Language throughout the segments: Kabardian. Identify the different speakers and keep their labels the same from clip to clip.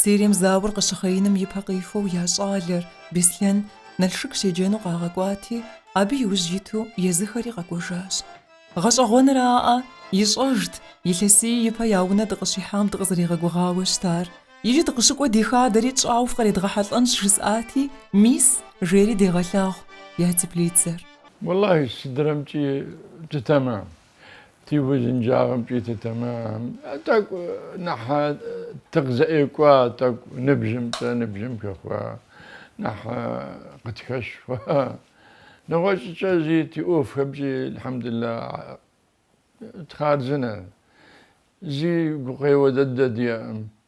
Speaker 1: Сирием зауэр къыщыхъеиным и пэ къихуэу я щӏалэр, Беслъэн, Налшык щеджэну къагъэкӏуати, абы иужь иту езыхэри къэкӏуэжащ. Гъэщӏэгъуэнраӏэ, ищӏэжт, илъэсий ипэ я унэ дыкъыщихьам дыкъызэригъэгугъауэ щытар. Иджы дыкъыщыкӏуэ ди хадэри тщӏауэ фкъредгъэхьэлӏэнщ, жысӏати, мис, жери дегъэлъагъу я теплицэр. Уэлэхьи,
Speaker 2: сыдрэмкӏи джы тэмэм, Ти узынджагъэмкӏи тэмэм, тӏэкӏу нэхь тыкъызэӏэкӏуа, тӏэкӏу ныбжьымкӏэ, ныбжьым хэхъуа, нэхь къытхэщ хъуа. Нэгъуэщӏкӏэ зи ти ӏуэхухэмкӏи, Эльхьэмдулла, тхъарзынэ. Зи гукъеуэ дыдэ диӏэкъым.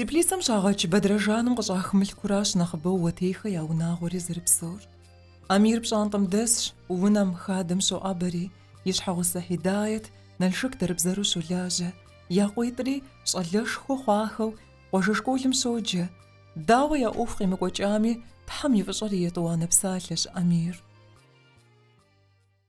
Speaker 1: Теплицэм щагъэкӏ бэдрэжаным къыщӏах мылъкуращ нэхъыбэу Уэтейхэ я унагъуэри зэрыпсэур. Амир пщӏантӏэм дэсщ, унэм, хадэм щоӏэбэри, и щхьэгъусэ Хьидает Налшык дэрыбзэру щолажьэ, я къуитӏри щӏалэшхуэ хъуахэу къуажэ школым щоджэ. Дауэ я ӏуэху къимыкӏуэкӏами, Тхьэм и фӏыщӏэр и етӏуанэ псалъэщ Амир.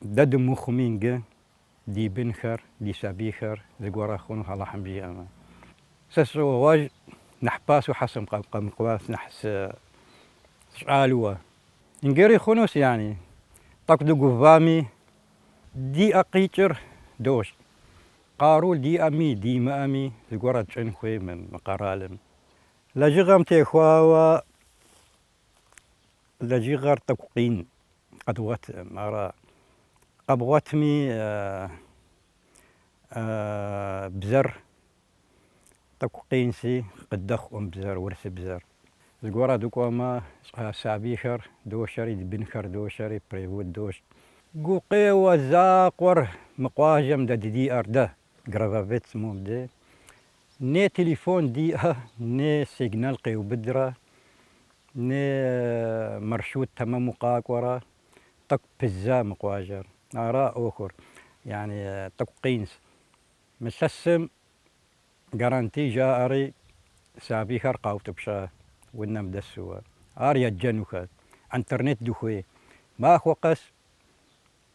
Speaker 3: Дэ дымыхъуми ингы, ди бынхэр, ди сабийхэр зыгуэрэ хъуну Алыхьым жиӏэмэ. Сэ сыщӏогъуэж, нэхь пасэу щхьэ сыкъэмыкӏуа, нэхь сщӏалуэ. Ингыри хъунущ, яни, тӏэкӏу дыгувами, ди ӏэ къикӏыр дощӏ. Къару диӏэми, димыӏэми, зыгуэрэ тщӏын хуей мы къэралым. Лэжьыгъэм техуауэ Лэжьыгъэр тӏэкӏу къин, къэдгъуэтӏым, ара къэбгъуэтми бзэр тӏэкӏу къинщи, къыдэхъуӏым бзэр, урысыбзэр. Зыгуэру дыкӏуэмэ, сабийхэр дощэри, ди бынхэр дощэри, перевод дощӏ. Гукъеуэ закъуэр мы къуажэм дэ диӏэр, дэ, Грабовец мобде не телефон диӏэ, не сигнал къеубыдрэ, не маршрут тэмэму къакӏуэрэ, тӏэкӏу пыдза мы къуажэр. Ара ӏуэхур, яни тӏэкӏу къинщ. Мы илъэсым карантин жаӏэри, сабийхэр къаутӏыпща унэм дэсууэ. Ар еджэнухэщ, интернет дыхуей. Махуэ къэс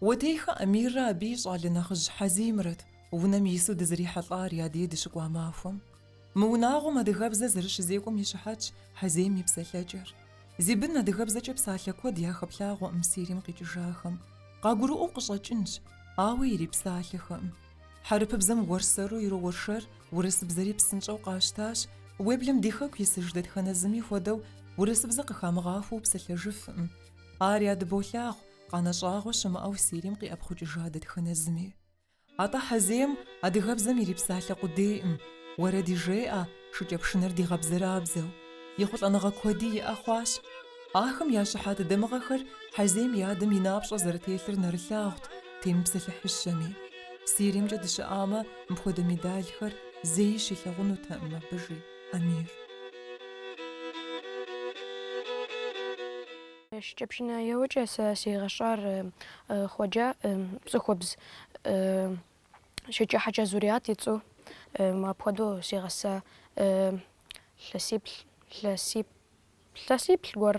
Speaker 1: Уэтейхэ Амиррэ абы и щӏалэ нэхъыжь Хьэзимрэт унэм ису дызрихьэлӏар я дей дыщыкӏуа махуэм. Мы унагъуэм адыгэбзэ зэрыщызекӏуэм и щыхьэтщ Хьэзим и псэлъэкӏэр. Зи бын адыгэбзэкӏэ псалъэ куэд яхэплъагъуэкъым Сирим къикӏыжахэм. Къагурыӏуэу къыщӏэкӏынщ, ауэ ирипсалъэхэкъым. Хьэрыпыбзэм уэрсэру ироуэршэр урысыбзэри псынщӏэу къащтащ. Уеблэм ди Хэку исыж дэтхэнэ зыми хуэдэу урысыбзэ къыхамыгъахуэу псэлъэжыфкъым. Ар ядыболъагъу, къанэ щӏагъуэ щымыӏэу Сирим къиӏэпхъукӏыжа дэтхэнэ зыми. Атӏэ Хьэзейм адыгэбзэм ирипсалъэ къудейкъым, уэрэди жеӏэ, шыкӏэпшынэр дигъэбзэрабзэу, ехъулӏэныгъэ куэди иӏэ хъуащ. Ахэм я щыхьэт дамыгъэхэр Хьэзейм и адэм и напщӏэ зэрытелъыр нэрылъагъут темыпсэлъыхьыщэми. Сиримкӏэ дыщыӏамэ, мыпхуэдэ медалхэр зэи щилъагъунутэкъым абы, жи Амир. Шыкӏэпшынэ еуэкӏэ сэ сигъэщӏар
Speaker 4: хъуэджэ цӏыхубз Шэджыхьэщӏэ Зуриат и цӏэу мопхуэдэу сигъэса, илъэсиплӏ гуэр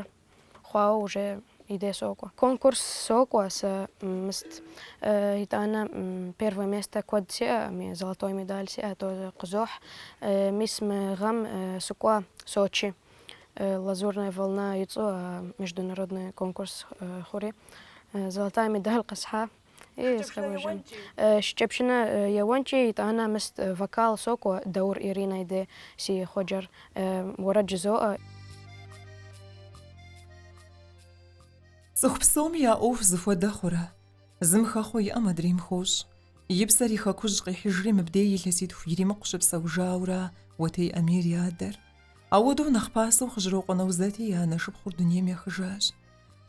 Speaker 4: хъуауэ уже и дей сокӏуэ. Конкурс сокӏуэ сэ мыст. Итӏанэ первое место куэд сиӏэ, золотой медаль сиӏэ, тоже къызохь. Мис мы гъэм сыкӏуа Сочи, Лазурная волна и цӏэу международный конкурс хъури, золотая медаль къысхьа. Шыкӏэпшынэ еуэнкӏи, итӏанэ мыст вокал сокӏуэ, Даур Иринэ и де си хъуэджэр уэрэд жызоӏэ.
Speaker 1: Цӏыху псоми я ӏуэху зыхуэдэ хъурэ? Зым хэхъуэ иӏэм адрейм хощӏ. И псэр и хэкужь къихьыжри мыбдей илъэситху иримыкъу щыпсэужаура Уэтей Амир и адэр. Ауэдэу нэхъ пасэу Хъыжьрокъуэ Нэузэти и анэ шыпхъур дунейм ехыжащ.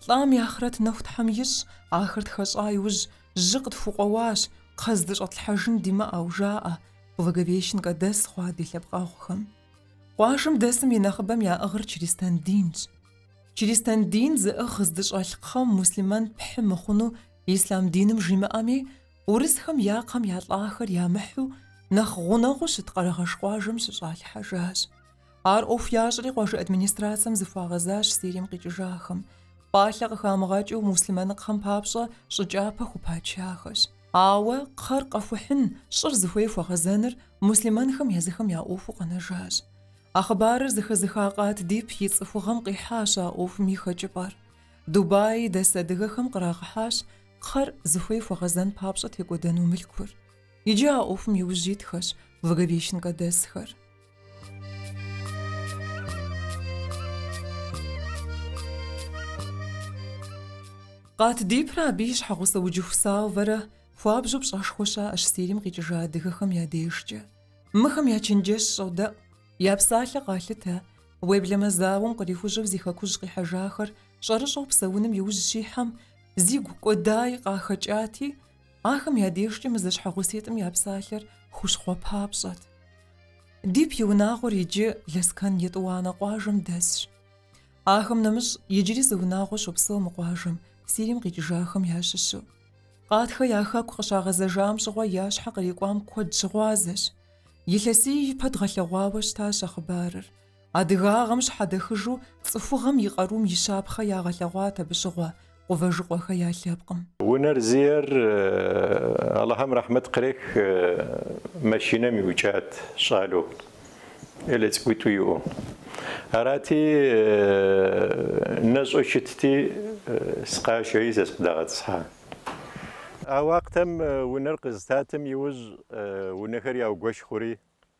Speaker 1: Лӏам и ахърэт нэху Тхьэм ищӏ, ахэр тхэщӏа иужь, жьы къытхукъуэуащ, кхъэ здыщӏэтлъхьэжын димыӏэу, жаӏэ, Благовещенкэ дэс хъуа ди лъэпкъэгъухэм. Къуажэм дэсым и нэхъыбэм яӏыгъыр чристэн динщ. Чристэн дин зыӏыгъ здыщӏэлъ кхъэм муслъымэн пхьы мыхъуну ислъам диным жимыӏэми, урысхэм я кхъэм я лӏахэр ямыхьу, нэхъ гъунэгъуу щыт Къэрэгъэш къуажэм щыщӏалъхьэжащ. Ар ӏуэху ящӏри къуажэ администрацэм зыхуагъэзащ Сирим къикӏыжахэм. Пӏалъэ къыхамыгъэкӏыу муслъымэныкхъэм папщӏэ щӏыкӏапэ хупачахэщ. Ауэ кхъэр къэхухьын, щӏыр зыхуей хуэгъэзэныр муслъымэнхэм езыхэм я ӏуэхуу къэнэжащ. А хъыбарыр зыхэзыха Къат Дип и цӏыхугъэм къихьащ а ӏуэхум и хэкӏыпӏэр. Дубай дэс адыгэхэм кърагъэхьащ кхъэр зыхуей хуэгъэзэн папщӏэ текӏуэдэну мылъкур. Иджы а ӏуэхум и ужь итхэщ Благовещенкэ дэсхэр. Къат Дипрэ абы и щхьэгъусэ Уджыху Салвэрэ хуабжьу пщӏэшхуэ щаӏэщ Сирим къикӏыжа адыгэхэм я дежкӏэ. Мыхэм я чэнджэщ щӏодэӏу, я псалъэ къалъытэ, уеблэмэ зауэм кърихужьэу зи хэкужь къихьэжахэр щӏэрыщӏэу псэуным иужь щихьэм, зигу кӏуэдаи къахэкӏати, Ахэм я дежкӏэ мы зэщхьэгъуситӏым я псалъэр хущхъуэ папщӏэт. Дип и унагъуэр иджы Лэскэн Етӏуанэ къуажэм дэсщ. Ахэм нэмыщӏ иджыри зы унагъуэ щопсэу мы къуажэм, Сирием къикӏыжахэм ящыщу. Къатхэ я хэку къыщагъэзэжам щыгъуэ я щхьэ кърикӏуам куэд щыгъуазэщ. Илъэсий ипэ дгъэлъэгъуауэ щытащ а хъыбарыр. Адыгагъэм щхьэдэхыжу цӏыхугъэм и къарум и щапхъэ ягъэлъэгъуат абы щыгъуэ Къувэжыкъуэхэ я лъэпкъым. Унэр зиӏэр
Speaker 5: Алыхьым рэхьмэт кърех машинэм иукӏат щӏалэу, ӏелэ цӏыкӏуитӏу иӏэу. Арати, нэщӏэу щытти, сыкъашэри сэ сыкъыдагъэтӏысхьа. А уакътэм унэр къызытатым иужь унэхэр яугуэш хъури.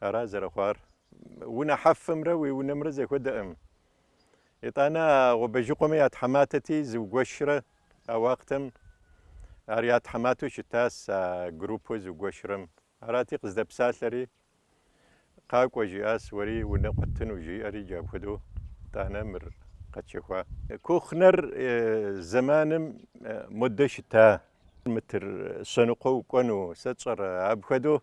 Speaker 5: Ара зэрыхъуар? Унэ хьэфымрэ уи унэмрэ зэхуэдэкъым. Итӏанэ а Къувэжыкъуэмэ я тхьэматэти, зыугуэшрэ а уакътэм ар я тхьэматэу щытас а группэу зыугуэшрэм. Арати, къыздэпсалъэри, Къакӏуэ, жиӏас, уэри унэ къуэттыну, жиӏэри джа апхуэдэу тӏанэ мыр къэтщэхуа. Кухнэр зэманым модэ щыта. Мытыр щэныкъуэ укӏуэну, сэ тщӏэрэ? Апхуэдэу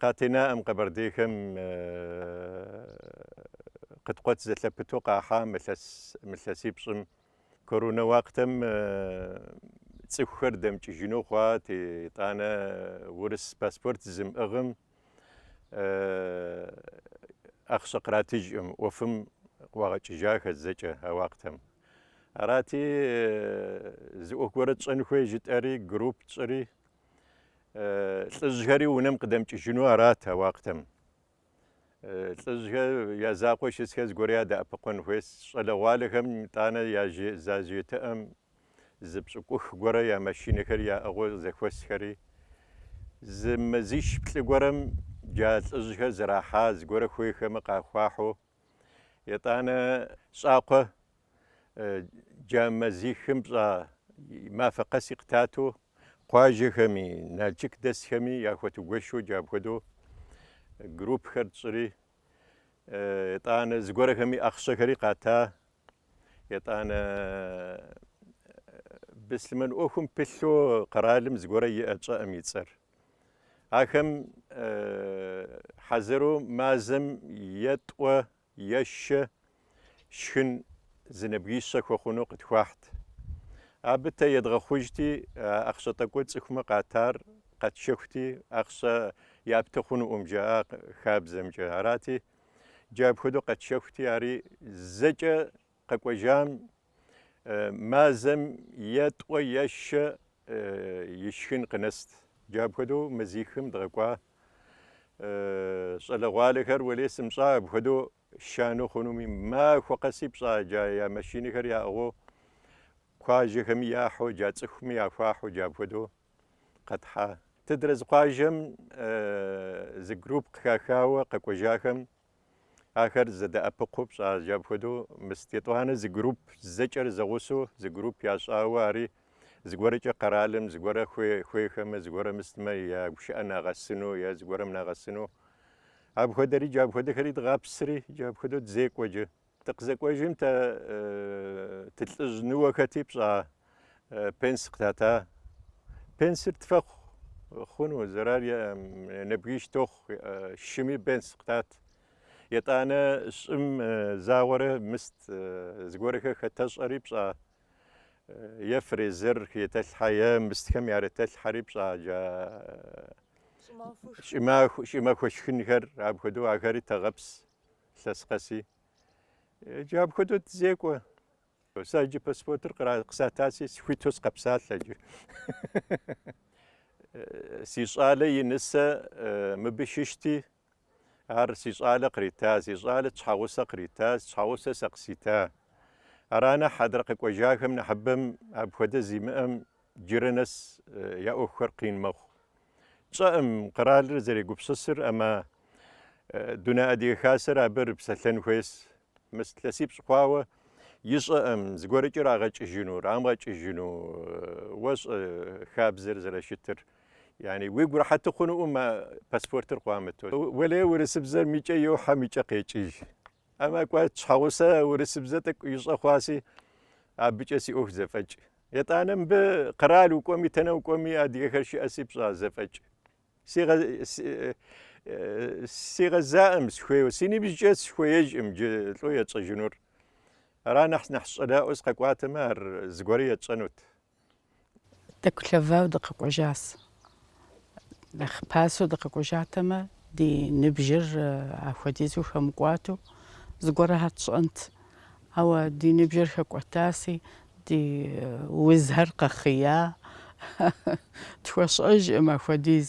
Speaker 5: Къатенаӏым къэбэрдейхэм къыткъуэт зэлъэпыту къахьа мы илъэсипщӏым. Коронэ уакътэм цӏыхухэр дэмыкӏыжыну хъуат, итӏанэ урыс паспорт зымыӏыгъым ахъщэ къратыжыӏым ӏуэфым къыӏуагъэкӏыжахэр зэкӏэ а уакътэм. Арати, зы ӏуэху гуэрэ тщӏэн хуей жытӏэри, групп тщӏри, лӏыжьхэри унэм къыдэмыкӏыжыну арат а уакътэм. Лӏыжьхэр я закъуэ щысхэр зыгуэр ядэӏэпыкъуэн хуейс, щӏалэгъуалэхэм итӏанэ я зажетыӏэм зы пщӏыкӏух гуэрэ я машинэхэр яӏыгъыу зэхуэсхэри, зы мазищ-плӏы гуэрэм джа лӏыжьхэр зэрахьа зыгуэрэ хуейхэмэ къахуахьу, Етӏанэ щӏакхъуэ джа мазихым пщӏа мафэ къэси къытату къуажэхэми, Налчык дэсхэми яхуэтугуэшу джа апхуэдэу группхэр тщӏри, етӏанэ зыгуэрхэми ахъщэхэри къата, етӏанэ быслъымэн ӏуэхум пылъу къэралым зыгуэрэ иӏэ, тщӏэӏым и цӏэр. Ахэм хьэзыру мазэм е тӏуэ, е щэ, шхын зы нэбгищэ хуэхъуну къытхуахьт. Абы тэ едгъэхъужти, а ахъщэ тӏэкӏур цӏыхумэ къатар къэтшэхути, ахъщэ япты хъунуӏым, жаӏа хабзэмкӏэ. Арати, джа апхуэдэу къэтшэхути, ари зэкӏэ Къэкӏуэжам мазэм е тӏуэ е шэ ишхын къынэст. Джа апхуэдэу мазихым дгъэкӏуа щӏалэгъуалэхэр уэлей, сымщӏа апхуэдэу шану хъунуми, махуэ къэси пщӏа джа я машинэхэр яӏыгъыу, куажэхэми яхьу, джа цӏыхуми яхуахьу джа апхуэдэу къэтхьа. Тыдрэ зы къуажэм зы групп къыхахауэ къэкӏуэжахэм Ахэр зэдэӏэпыкъуу пщӏа, джа апхуэдэу мыст етӏуанэ зы групп зэкӏэр зэгъусэу зы групп ящӏауэ ари. Зыгуэркӏэ къэралым, зыгуэрэ хуейхэмэ, зыгуэрэ мыстмэ я гушыӏэ нагъэсыну е зыгуэрэм нагъэсыну. Апхуэдэри джа апхуэдэхэри дгъэпсри, джа апхуэдэу дызекӏуэ джа. Дыкъызэкӏуэжым тэ тылӏыжь ныуэхэти пщӏа пенс къытата. Пенсыр тфэхъу хъуну, зэрар нэбгиш тохъу, шыми пенс къытат. Етӏанэ щӏым загъуэрэ мыст, зыгуэрхэр хэтэщӏэри пщӏа е фрезер етэлъхьэ, е мыстхэм ярытэлъхьэри пщӏа джа щӏымахуэ шхынхэр, апхуэдэу ахэри тэгъэпс. лъэс къэси. Иджы апхуэдэу дызекӏуэ. Сэ иджы паспортыр къысатаси схуиту сыкъэпсалъэ иджы. Си щӏалэ и нысэ мыбы щыщти, ар си щӏалэ кърита, си щӏалэ тщхьэгъусэ кърита, тщхьэгъусэ сэ къысита. Ара нэхъ адрэ къэкӏуэжахэм нэхъыбэм апхуэдэ зимыӏэм джырэ нэс я ӏуэхухэр къин мэхъу. Тщӏэӏым, къэралыр зэрегупсысыр, ама Дунэ Адыгэ Хасэр абы рыпсэлъэн хуейс. Мыс лъэсипщӏ хъуауэ ищӏэӏым, зыгуэркӏэ рагъэкӏыжыну, рамгъэкӏыжыну. Уэщӏэ хабзэр зэрэщытыр? Яни, уигу рэхьэту хъунуӏым а паспортыр къуамыту. Уэлей урысыбзэр микӏэ йохьэ, микӏэ къекӏыж. Ама кӏуэ, тщхьэгъусэ урысыбзэ тӏэкӏу ищӏэ хъуаси, абыкӏэ си ӏуэху зэфӏэкӏ. Етӏанэ мыбы къэрал укӏуэми, тэнэ укӏуэми адыгэхэр щыӏэси, пщӏа, зэфӏэкӏ. Сигъэзаӏэм схуейуэ, си ныбжькӏэ схуеижӏым джы лӏо етщӏэжынур. Ара нэхъ нэхъ сщӏалэӏуэ сыкъэкӏуатэмэ, ар зыгуэрэ етщӏэнут.
Speaker 6: Тӏэкӏу лъэвауэ дыкъэкӏуэжас. Нэхъ пасэу дыкъэкӏуэжатэмэ, ди ныбжьыр апхуэдизу хэмыкӏуату зыгуэрхэ тщӏэнт. Ауэ ди ныбжьыр хэкӏуэтаси, ди узхэр къэхъия. Тхуэщӏэжӏым апхуэдиз.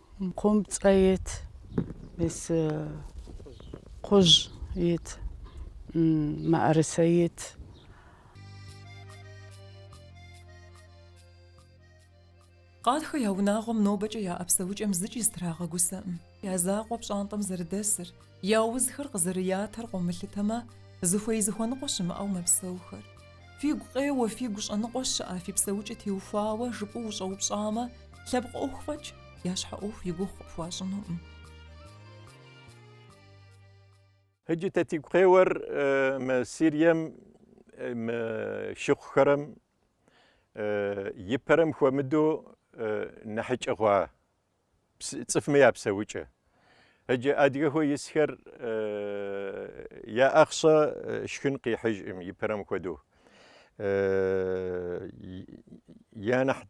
Speaker 6: Къыпцӏэ ит, мис кхъужь ит, мыӏэрысэ ит.
Speaker 1: Къатхэ я унагъуэм нобэкӏэ я ӏэпсэукӏэм зыкӏи зытрагъэгусэкъым. Я закъуэу пщӏантӏэм зэрыдэсыр. Я узхэр къызэрыятэр къомылъытэмэ, зыхуей зыхуэныкъуэ щымыӏэу мэпсэухэр. Фигу къеуэ, фигу щӏэныкъуэ щыӏэ, фи псэукӏэ теухуауэ, жыпӏэу ущӏэупщӏамэ, лъэпкъ ӏуэху фӏэкӏ, я щхьэ ӏуэху и гугъу къыпхуащӏынукъым.
Speaker 5: Иджы тэ тигу къеуэр мы Сирием мы шыхъухэрэм ипэрэм хуэмыдэу нэхьыкӏэ хъуа Цӏыфмэ я псэукӏэ. Ыджы адыгэхэу исхэр я ӏэхъщэ шхын къихьыжӏым ипэрэм хуэдэу. Я нэхь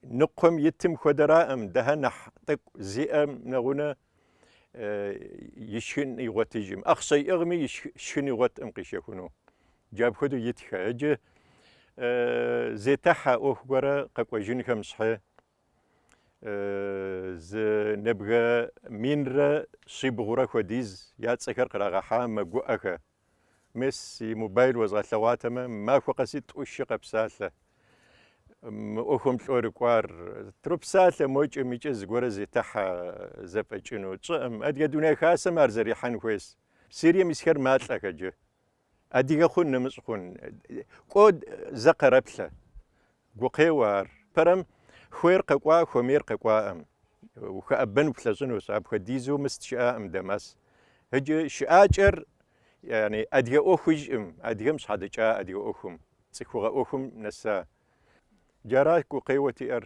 Speaker 5: ныкъуэм итым хуэдэраӏым, дыхьэ нэхь тӏэкӏу зиӏэм нэгъунэ и шхын игъуэтыжӏым. ӏэхъщэ иӏыгъми и шхын игъуэткъым къишэхуну. Джа апхуэдэу итхэ. Ыджы зетыхьэ ӏуэху гуэрэ къэкӏуэжынхэм щхьи, зы нэбгэ минрэ щибгъурэ хуэдиз я цӏэхэр кърагъэхьа мэгуӏэхэ. Мес и мобайл уэзгъэлъэгъуатэмэ, махуэ къэси тӏу-щы къэпсалъэ. Мы ӏуэхум лӏо рыкӏуар тропсалъэ мокӏэм икӏэ зыгуэрэ зетыхьэ зэфӏэкӏыну тщӏэӏым. Адыгэ дуней хасэм ар зэрихьэн хуейс. Сирием исхэр малӏэхэджэ. Адыгэ хъун, нэмыщӏ хъун, кӏуэ зэ къэрэплъэ. Гукъеуэ ар. Пэрэм хуейр къэкӏуа, хуэмейр къэкӏуаӏым. Ухэӏэбэн уплъэщӏынущ, апхуэдизу мыст щыӏаӏым Дамас. Иджы щыӏакӏэр яни, адыгэ ӏуэхужӏым, адыгэм щхьэдэкӏа адыгэ ӏуэхум, цӏыхугъэ ӏуэхум нэса. Джара гукъеуэ тиӏэр.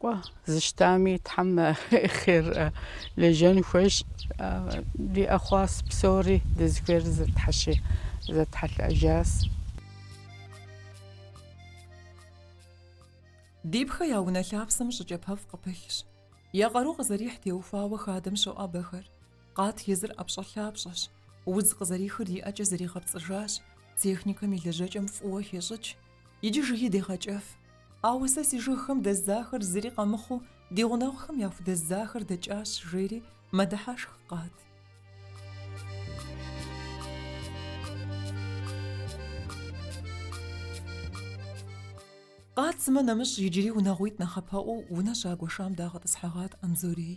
Speaker 6: Кӏуэ, зыщтами Тхьэм хъер лэжьэн хуейщ. Диӏэ хъуащ псори, дызыхуейр зытхьэщи, зэтхьэлӏэжащ.
Speaker 1: Дибхэ я унэ лъапсэм щӏы кӏапэфӏ къыпылъщ. Я къару къызэрихь теухуауэ хадэм щоӏэбэхэр. Къат езыр ӏэпщӏэлъапщӏэщ. Удз къызэрихыр и ӏэкӏэ зэригъэпцӏыжащ, техникэм и лэжьэкӏэм фӏыуэ хещӏыкӏ. Иджы жыги дегъэкӏыф. Ауэ сэ си жыгхэм дэздзахэр зыри къэмыхъуу, ди гъунэгъухэм яхудэздзахэр дэкӏащ, жери мэдыхьэшх къат. Къат сымэ нэмыщӏ иджыри унагъуитӏ нэхъапэӏуэу унэ щагуэшам дагъэтӏысхьэгъат Анзорей.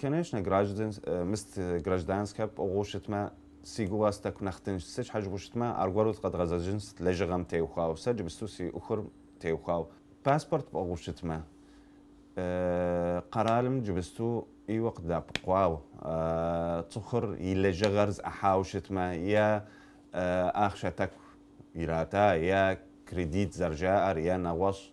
Speaker 7: Конечно, гражданскэ пӏыгъыу щытмэ, си гугъэс тӏэку нэхъ тыншт. Сыт щхьэ жыпӏэу щытмэ, аргуэру зэ къэдгъэзэжынс, лэжьыгъэм теухуау, сэ джыбысту си ӏуэхур теухуау. Паспорт пӏыгъыу щытмэ, къэралым джыбысту ӏейуэ къыдапкъуау, цӏыхур и лэжьыгъэр зэӏыхьау щытмэ, е ахъшэ тӏэку ирата, е кредит зэрыжаӏэр, е нэгъуэщӏ.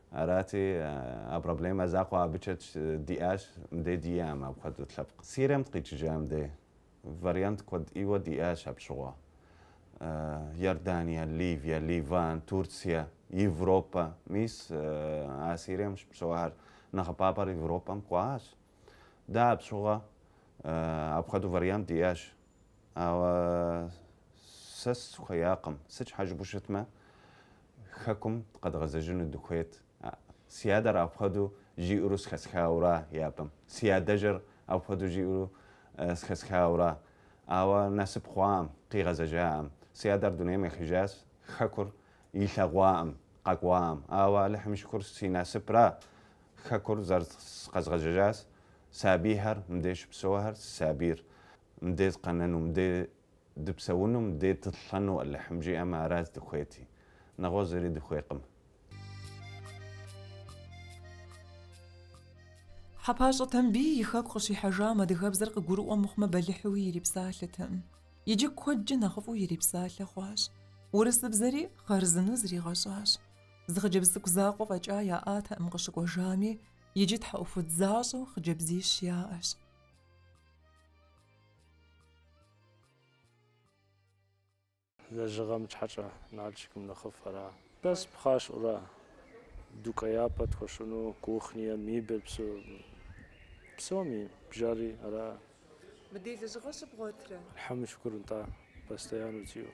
Speaker 7: Арати, а проблемэ закъуэ абыкӏэ диӏащ мыдей диям апхуэдэу лъэпкъ Сирием дыкъикӏыжам дей. Вариант куэд ӏейуэ диӏащ апщыгъуэ. Иордания, Ливия, Ливан, Турция, Европэ. Мис а Сирием щыпсэуахэр нэхъыбапӏэр Европэм кӏуащ. Дэ апщыгъуэ апхуэдэу вариант диӏащ. Ауэ сэ сыхуеякъым. Сыт щхьэ жыпӏэу щытмэ, Хэкум къэдгъэзэжыну дыхуейт. Си адэр апхуэдэу жиӏэурэ зэхэсхауэра япэм. Си адэжьыр апхуэдэу жиӏэурэ зэхэсхауэра. Ауэ насып хъуакъым, къигъэзэжакъым. Си адэр дунейм ехыжащ, Хэкур илъэгъуакъым, къэкӏуакъым. Ауэ Алыхьым и шыкур си насыпра, Хэкур зэрыкъэзгъэзэжащ. Сабийхэр, мыдей щыпсэухэр, си сабийр мыдей дыкъэнэну, мыдей дыпсэуну, мыдей дылӏэну Алыхьым жиӏэмэ, ара здыхуейти. Нэгъуэщӏ зыри дыхуейкъым.
Speaker 1: Хьэпащӏэ Тамбий и хэку къыщихьэжам адыгэбзэр къыгурыӏуэ мыхъумэ бэлыхьуи ирипсалъэтэкъым. Иджы куэдкӏэ нэхъыфӏу ирипсалъэ хъуащ. Урысыбзэри хъарзынэу зригъэщӏащ. Зы хъыджэбз цӏыкӏу закъуэ фӏэкӏа яӏатэкъым къыщыкӏуэжами, Иджы тхьэӏухуд защӏэу хъыджэбзищ
Speaker 8: яӏэщ. Лэжьыгъэм щхьэкӏэ Налшыкым нэхъыфӏ ара? Бэс пхъащӏэура. Дукӏеяпӏэ тхуэщӏыну, кухние, мебель псо, псоми бжэри ара. Мыдей
Speaker 1: лэжьыгъэ щыбгъуэтрэ? Алыхьым шыкур нтӏа,
Speaker 8: постоянно зиӏэу.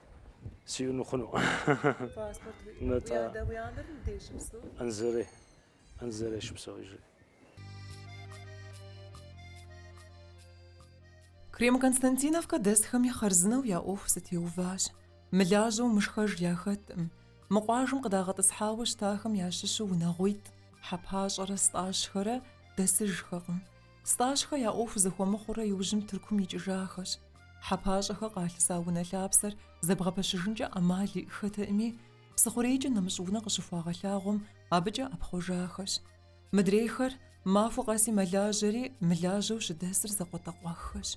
Speaker 8: сиуну хъуну. Паспорт уи адэ уи анэр мыдей щыпсэу? Анзорей. Анзорей щопсэу иджы.
Speaker 1: Крем-Константиновкэ дэсхэми хъарзынэу я ӏуэху зэтеуващ. Мылажьэу мышхэж яхэткъым. Мы къуажэм къыдагъэтӏысхьауэ щытахэм ящыщу унагъуитӏ, Хьэпащӏэрэ Стӏащхэрэ дэсыжхэкъым. Стӏащхэ я ӏуэху зэхуэмыхъуурэ иужьым Тыркум икӏыжахэщ. Хьэпащӏэхэ къалъыса унэ лъапсэр зэбгъэпэщыжынкӏэ ӏэмал иӏэххэтэкъыми, Псыхъурейкӏэ нэмыщӏ унэ къыщыхуагъэлъагъуэм абыкӏэ ӏэпхъуэжахэщ. Мыдрейхэр махуэ къэси мэлажьэри, мылажьэу щыдэсыр закъуэтӏакъуэххэщ.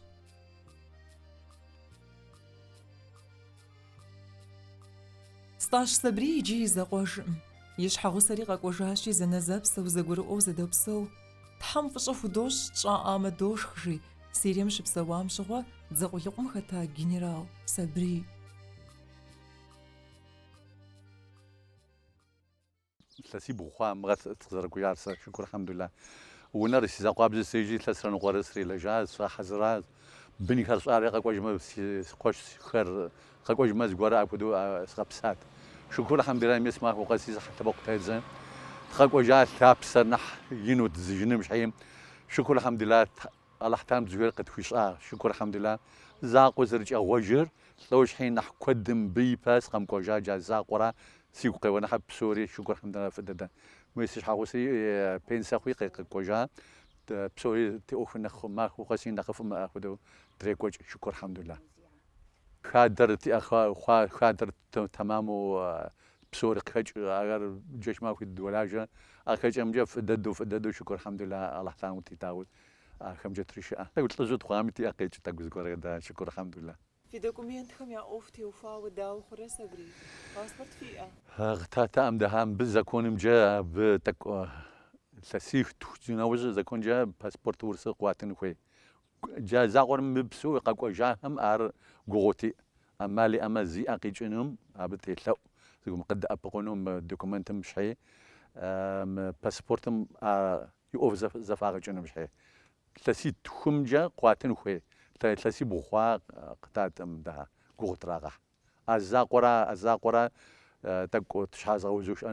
Speaker 1: Стӏащ Сабрий иджы и закъуэжкъым. И щхьэгъусэри къэкӏуэжащи, зэнэзэпсэу, зэгурыӏуэу зэдопсэу. Тхьэм фӏыщӏэ худощӏ, тщӏаӏамэ, дошх, жи, Сирием щыпсэуам щыгъуэ, дзэ къулыкъум хэта генерал Сабрий.
Speaker 9: Лъэсибгъу хъуа мы къызэрыкӏуэжар сэ, шыкур алхьэмдулла. Унэр си закъуабзэу сежьи, илъэсрэ ныкъуэрэ срилэжьащ, згъэхьэзыращ. Бынхэр щӏалэр къэкӏуэжмэ, си къуэшхэр къэкӏуэжмэ, зыгуэру апхуэдэу сыкъэпсат. Шыкур алхьэмдулла мес махуэ къэси зы лъэбакъуэ тедзэ. Дыкъэкӏуэжа лъапсэр нэхъ ину тщӏыжыным щхьи. Шыкур алхьэмдулла Алыхь Тхьэм зыгуэр къытхуищӏа, шыкур алхьэмдула, закъуэ зэрыкӏэгъуэжыр лӏо щхьи, нэхь куэдым мыбы ипэ сыкъэмкӏуэжа джа закъуэра, сигу къеуэ, нэхь псори, шыкур хьэмдула, фӏы дэдэ. Мыи си щхьэгъусэри пенсэ хъуи къэкӏуэжа, псори ти ӏуэхур нэхъ махуэу къэси, нэхъыфӏ имыӏэ хуэдэу дрекӏуэкӏ, шыкур алхьэмдула. Хадэр тиӏэ хъуа, хадэр Тэмэму псори къыхэкӏ, ахэр джэщ махуи дыдолажэ. А хэкӏэмкӏэ фӏыдэдэу, фӏыдэдэу шыкур алхьэмдулла Алахь Тхьэм къытитауэ ахэмкӏэ трищыӏэ. Тӏэкӏу лӏыжьу тхъуами ти ӏэ къекӏ тӏэкӏу зыгуэркӏэ да, шыкур алхьэмдулла. Фи
Speaker 1: документхэм я ӏуэху теухуауэ дауэ хъурэ Сабрий? Паспорт фиӏэ?
Speaker 9: Къытатаӏэм дыхьа мыбы законымкӏэ абы тӏэкӏу лъэситху. Зи нэужьи законкӏэ паспорт урысыр къуатын хуей. Джа закъуэр мыпсэу къэкӏуэжахэм ар гугъути, ӏэмал иӏэмэ зи ӏэ къикӏынум абы телъэӏу, зыгум къыдэӏэпыкъуну мы документым щхьи, мы паспортым и ӏуэху зэфагъэкӏынум щхьи. Лъэситхумкӏэ къуатын хуей, лъэсибгъу хъуа къытатӏэм дэ гугъу трагъэхь. А закъуэра, а закъуэра, тӏэкӏу ти щхьэ зыгъэузу щыӏэ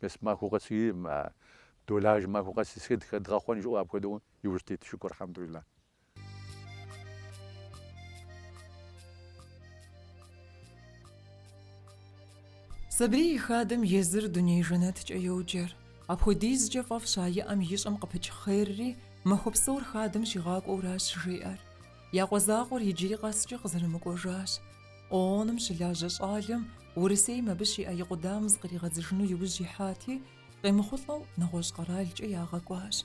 Speaker 9: Мес махуэ къэси долажьэ махуэ къэси сыт хэдгъэхъуэн жыӏэу апхуэдэу иужь тет шыкур
Speaker 1: альхьэмдулла. Сабрий и хадэм езыр дуней жэнэткӏэ йоджэр. Апхуэдизкӏэ фӏэфӏщ а и ӏэм ищӏэм къыпыкӏ хъерри, махуэ псор хадэм щигъакӏуэуращ жиӏэр. Я къуэ закъуэр иджыри къэскӏэ къызэрымыкӏуэжащ. ООН-ым щылажьэ щӏалэм Урысейм абы щиӏэ и къудамэм зыкъригъэдзыжыну иужь ихьати, къемыхъулӏэу нэгъуэщӏ къэралкӏэ ягъэкӏуащ.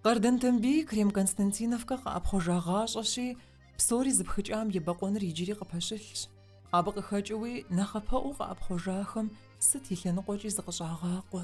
Speaker 1: Къардэн Тамбий Крем-Константиновкэ къэӏэпхъуэжагъащӏэщи, псори зыпхыкӏам ебэкъуэныр иджыри къыпэщылъщ. Абы къыхэкӏыуи нэхъапэӏуу къыӏэпхъуэжахэм сыт и лъэныкъуэкӏи зыкъыщӏагъакъуэ.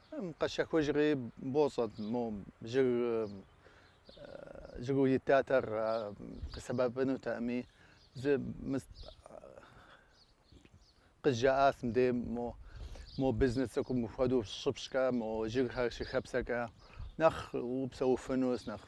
Speaker 10: Къэщэхужри бощӏэт мо жыг жыгу итатэр къысэбэпынутэми, сэ къызжаӏащ мыдей мо мо бизнес цӏыкӏум хуэдэу щыпщӏкӏэ, мо жыгхэр щыхэпсэкӏэ нэхъ упсэуфынущ, нэхъ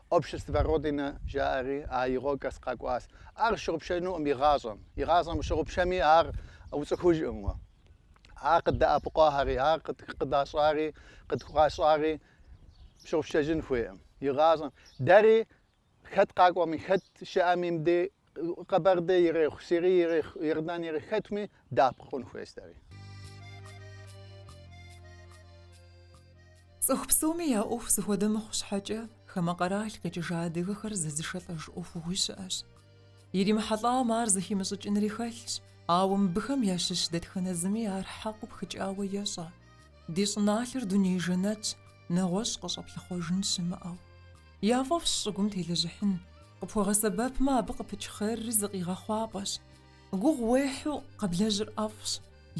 Speaker 10: Общество Родина жаӏэри а игъокӏэс къакӏуащ. Ар пщыгъупщэнукъым игъащӏэм. Игъащӏэм пщыгъупщэми ар уцӏыхужкъым уэ. Ар къыддэӏэпыкъуахэри, ар къыдащӏари, къытхуащӏари пщыгъупщэжын хуейкъым игъащӏэм. Дэри хэт къакӏуэми, хэт щыӏэми мыбдей Къэбэрдей ирехъу, Сирий ирехъу, Ирдан ирехъу, хэтми дэӏэпыкъун хуейщ
Speaker 1: дэри. Цӏыху псоми я ӏуэху зыхуэдэ мыхъу щхьэкӏэ, хамэ къэрал къикӏыжа адыгэхэр зэзышэлӏэж ӏуэхугъуи щыӏэщ. Иримыхьэлӏам ар зыхимыщӏыкӏынри хэлъщ, ауэ мыбыхэм ящыщ дэтхэнэ зыми ар хьэкъыу пхыкӏауэ ещӏэ. Ди щӏыналъэр дуней жэнэтщ, нэгъуэщӏ къыщӏэплъыхъуэжын щымыӏэу. Яфӏэфӏщ щӏыгум телэжьыхьын, къыпхуэгъэсэбэпмэ, абы къыпыкӏ хъерри зы къигъэхъуапӏэщ. Гугъу уехьу къэблэжьыр ӏэфӏщ,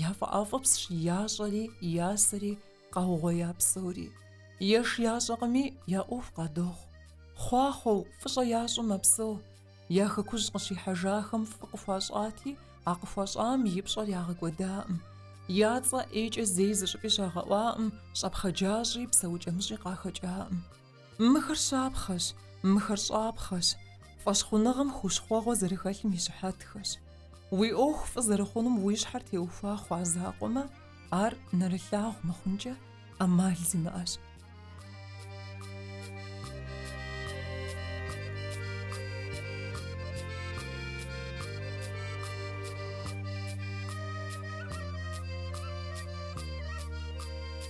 Speaker 1: яфӏэӏэфӏыпсщ ящӏэри, и ясэри, къаугъуея псори. Еш ящӏэкъыми, я ӏуэху къадохъу. Хъуахъуэу, фӏыщӏэ ящӏу мэпсэу. Я хэкужь къыщихьэжахэм фӏы къыхуащӏати, а къыхуащӏам и пщӏэр ягъэкӏуэдаӏым. Я цӏэ ӏейкӏэ зэи зыщӏыпӏи щагъэӏуаӏым, щӏэпхъаджащӏи, псэукӏэмыщӏи къахэкӏаӏым. Мыхэр щапхъэщ, мыхэр щӏапхъэщ, фӏэщхъуныгъэм хущхъуэгъуэ зэрыхэлъым и щыхьэтхэщ. Уи ӏуэху фӏы зэрыхъунум уи щхьэр теухуа хъуа закъуэмэ, ар нэрылъагъу мыхъункӏэ ӏэмал зимыӏэщ.